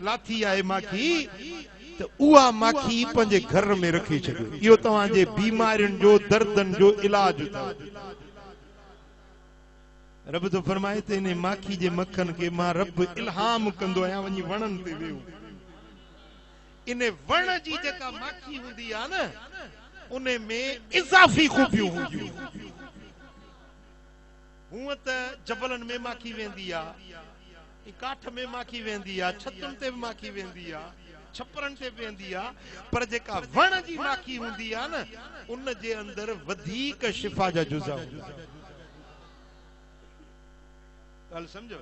لاٿي آهي ماکي ته اها ماکي پنهنجي گهر ۾ رکي ڇڏيو اهو توهان جي بيمارين جو دردن جو علاج اٿو رب ٿو فرمائي ته انهي ماکي جي مکن کي مان رب الهام ڪندو آهيان وڃي وڻن تي ويو ان وڻ جي جيڪا ماکي هوندي آ نه ان ۾ اضافي خوبيون هونديون هونء ته جبلن ۾ ماکي ويندي آ، ۽ ڪاٺ ۾ ماکي ويندي آ، ڇتن تي به ماکي ويندي آ، ڇپرن تي به ويندي آ، پر جيڪا وڻ جي ماکي هوندي آ نه، ان جي اندر وڌيڪ شفا جا جزا هوندا آهن. ڳالهه سمجهيو؟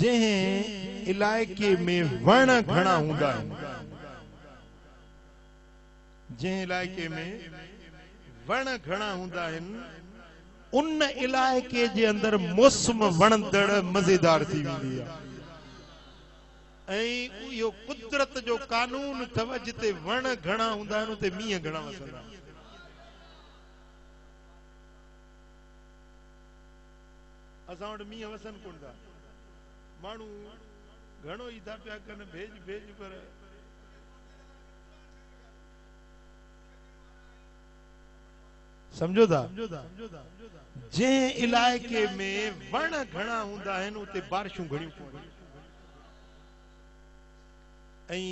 جنهن علائقي ۾ وڻ گهڻا هوندا آهن جنهن علائقي ۾ وڻ گهڻا هوندا آهن ان علائقي جي اندر موسم وڻندڙ مزيدار ٿي ويندي آهي ۽ اهو قدرت جو قانون اٿئو جتي وڻ گهڻا هوندا آهن اتي مينهن گهڻا وسندا آهن. اسان وٽ مينهن وسن ڪونه ٿا ماڻهو گهڻو ئي ٿا پيا ڪن ڀيڄ ڀيڄ پر سمجھو ٿا جنهن علائقي ۾ وڻ گهڻا هوندا آهن اتي بارشون گهڻيون پونديون ۽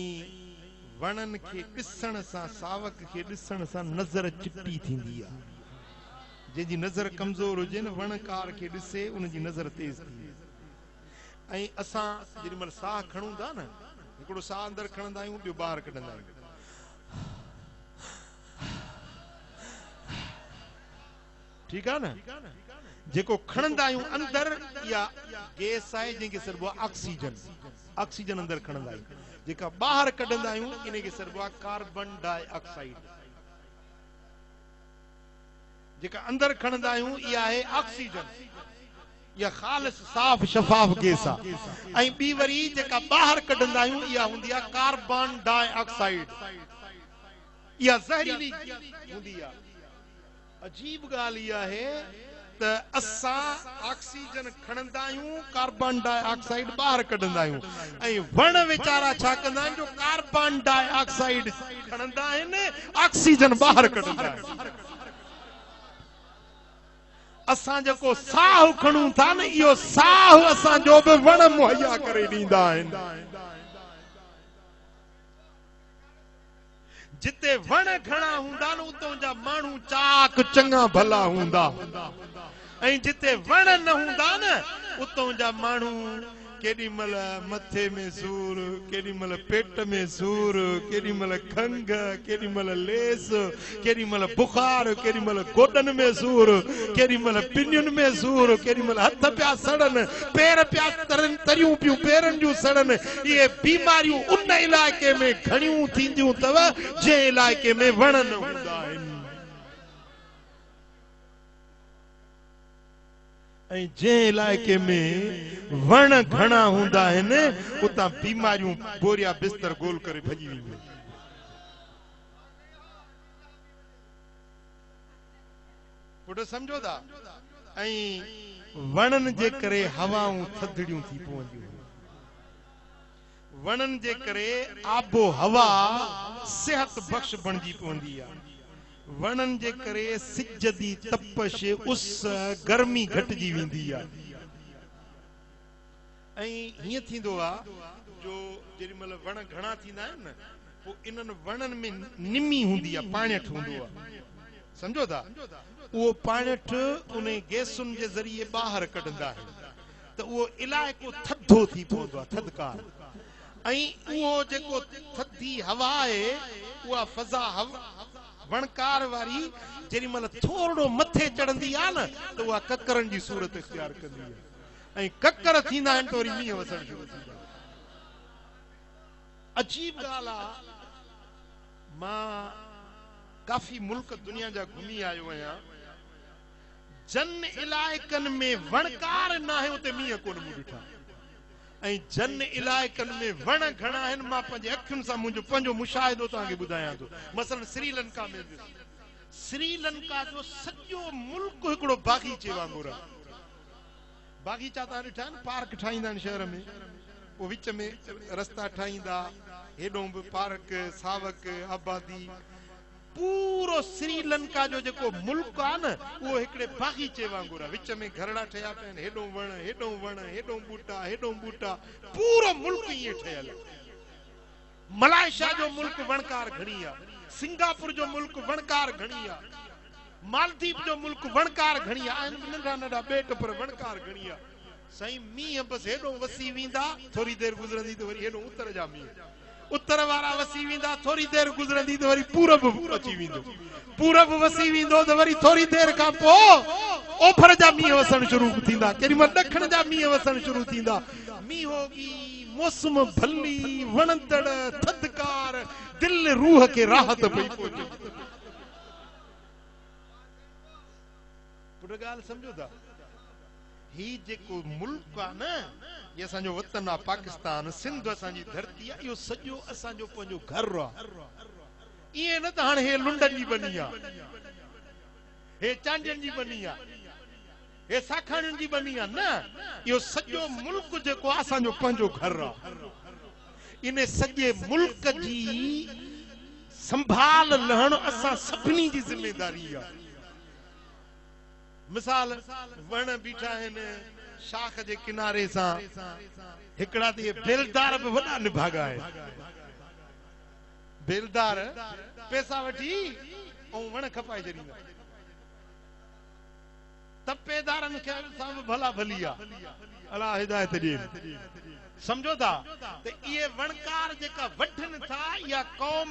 وڻن کي ڏسڻ سان ساوڪ کي ڏسڻ سان نظر چٽي ٿيندي آهي جنهن جي نظر ڪمزور هجي نه وڻڪار کي ڏسي ان جي نظر تيز ٿي ويندي ۽ اسان جڏهن مهل ساهه کڻون ٿا نه هڪڙو ساهه اندر کڻندا آهيون ٻيو ٻاهر ڪڍندا آهيون ٺيڪ آهي نه جيڪو کڻندا آهيون اندر اها گيس آهي جنهن کي سڏبو آهي آڪسيجن آڪسيجن اندر کڻندا آهيون جيڪا ٻاهر ڪڍندا آهيون ان کي سڏبو آهي ڪاربن ڊاء آڪسائيڊ جيڪا اندر کڻندا آهيون اها آهي آڪسيجن اها خالص صاف شفاف گيس آهي ۽ ٻي وري جيڪا ٻاهر ڪڍندا آهيون اها هوندي آهي ڪاربن ڊاء آڪسائيڊ اها زهريلي هوندي آهي عجيب ڳالهه اها آهي ته اسان آڪسيجن کڻندا آهيون، ڪاربان ڊاء آڪسائيڊ ٻاهر ڪڍندا آهيون ۽ وڻ ويچارا ڇا ڪندا آهن جو ڪاربان ڊاء آڪسائيڊ کڻندا آهن، آڪسيجن ٻاهر ڪڍندا آهن. اسان جيڪو ساهه کڻون ٿا نه اهو ساهه اسان جو به وڻ مهيا ڪري ڏيندا آهن. جتي وڻ گهڻا هوندا نه اتون جا ماڻهو چاق چڱا ڀلا هوندا ۽ جتي وڻ نه هوندا نه اتون جا ماڻهو ڪيڏي مهل مٿي ۾ سور ڪيڏي مهل پيٽ ۾ سور ڪيڏي مهل کنگهه ڪيڏي مهل ليس ڪيڏي مھل بخار، ڪيڏي مھل گوڏن ۾ سور، ڪيڏي مھل پنين ۾ سور، ڪيڏي مھل ھٿ پيا سڙن، پير پيا ترن، تريون پيون پيرن جون سڙن، اھي بيماريون ان علائقي ۾ گھڻيون ٿينديون تھ جنھن علائقي ۾ وڻ نھ ھوندا آھن ۽ جنھن علائقي ۾ وڻ گھڻا ھوندا آھن اتان بيماريون بوريا بستر گول ڪري ڀڄي وينديون آھن. پٽ سمجهو ٿا ۽ وڻن جي ڪري هوائون ٿڌڙيون ٿي پونديون هيون وڻن جي ڪري آب و هوا صحت بخش بڻجي پوندي آ وڻن جي ڪري سج جي تپش اس گرمي گهٽجي ويندي آ ۽ هيئن ٿيندو آ جو جيڏي مهل وڻ گهڻا ٿيندا آهن نه پو انهن وڻن ۾ نمي هوندي آ پاڻيٺ هوندو آ سمجهو ٿا اهو پاڻيٺ انهي گيسن جي ذريعي ٻاهر ڪڍندا آهن ته اهو علائقو ٿڌو ٿي پوندو آ ٿڌڪار ۽ اهو جيڪو ٿڌي هوا آهي اها فضا وڻڪار واري جيڏي مهل ٿورڙو مٿي چڙهندي آ نه ته اها ڪڪرن جي صورت اختيار ڪندي آ ۽ ڪڪر ٿيندا آهن ته وري مينهن وسڻ شروع ٿي ويندا آهن. عجيب ڳالهه آ مان ڪافي ملڪ دنيا جا گهمي آيو آهيان جن علائقن ۾ وڻڪار ناهي اتي مينهن ڪونه مون ڏٺا ۽ جن علائقن ۾ وڻ گهڻا آهن مان پنهنجي اکين سان منهنجو پنهنجو مشاهدو توهان کي ٻڌايان ٿو مثلا سري لنڪا ۾ سري لنڪا جو سڄو ملڪ هڪڙو باغيچي وانگر آهي باغيچا تان ڏٺا آهن پارڪ ٺاهيندا آهن شهر ۾ پوء وچ ۾ رستا ٺاهيندا هيڏون به پارڪ ساوڪ آبادي پورو سري لنڪا جو جيڪو ملڪ آهي نه اهو هڪڙي باغيچي وانگر آهي وچ ۾ گهرڙا ٺهيا پيا آهن هيڏون وڻ هيڏون وڻ هيڏون ٻوٽا هيڏون ٻوٽا پورو ملڪ ائين ٺهيل آهي ملائيشيا جو ملڪ وڻڪار گهڻي آ. سنگاپور جو ملڪ وڻڪار گهڻي آ. مالديپ جو ملڪ وڻڪار گهڻي آ. آهن به ننڍا ننڍا ٻيٽ پر وڻڪار گهڻي آ. سائين مينهن بس هيڏو وسي ويندا ٿوري دير گذرندي ته وري هيڏو اتر جا مينهن اتر وارا وسي ويندا ٿوري دير گذرندي ته وري پورب اچي ويندو پورب وسي ويندو ته وري ٿوري دير کان پوء اوڀر جا مينهن وسڻ شروع ٿيندا ڪيڏي مهل ڏکڻ جا مينهن وسڻ شروع ٿيندا مينهن هوگي موسم ڀلي، وڻندڙ، ٿڌڪار، دل روح کي راحت پئي پهچي. پٽ ڳالهه سمجهو ٿا؟ هي جيڪو ملڪ آ نه، هي اسان جو وطن آ، پاڪستان، سنڌ اسان جي ڌرتي آ، اهو سڄو اسان جو پنهنجو گهر آ. ائين نه ته هاڻي هي لنڊن جي ٻني آ، هي چانڊين جي ٻني آ. هي ساکاڻين جي ٻني آ نه اهو سڄو ملڪ جيڪو آ اسان جو پنهنجو گهر آ ان سڄي ملڪ جي سنڀال لهڻ اسان سڀني جي ذميداري آ مثال وڻ بيٺا آهن شاخ جي ڪناري سان هڪڙا ته اهي بيلدار به وڏا نڀاڳا آهن بيلدار پيسا وٺي ۽ وڻ کپائي ڇڏيندا ٽپي دارن کي ان سان به ڀلا ڀلي آ الله هدايت ڏين سمجهو ٿا ته اهي وڻڪار جيڪا وڍن ٿا اها قوم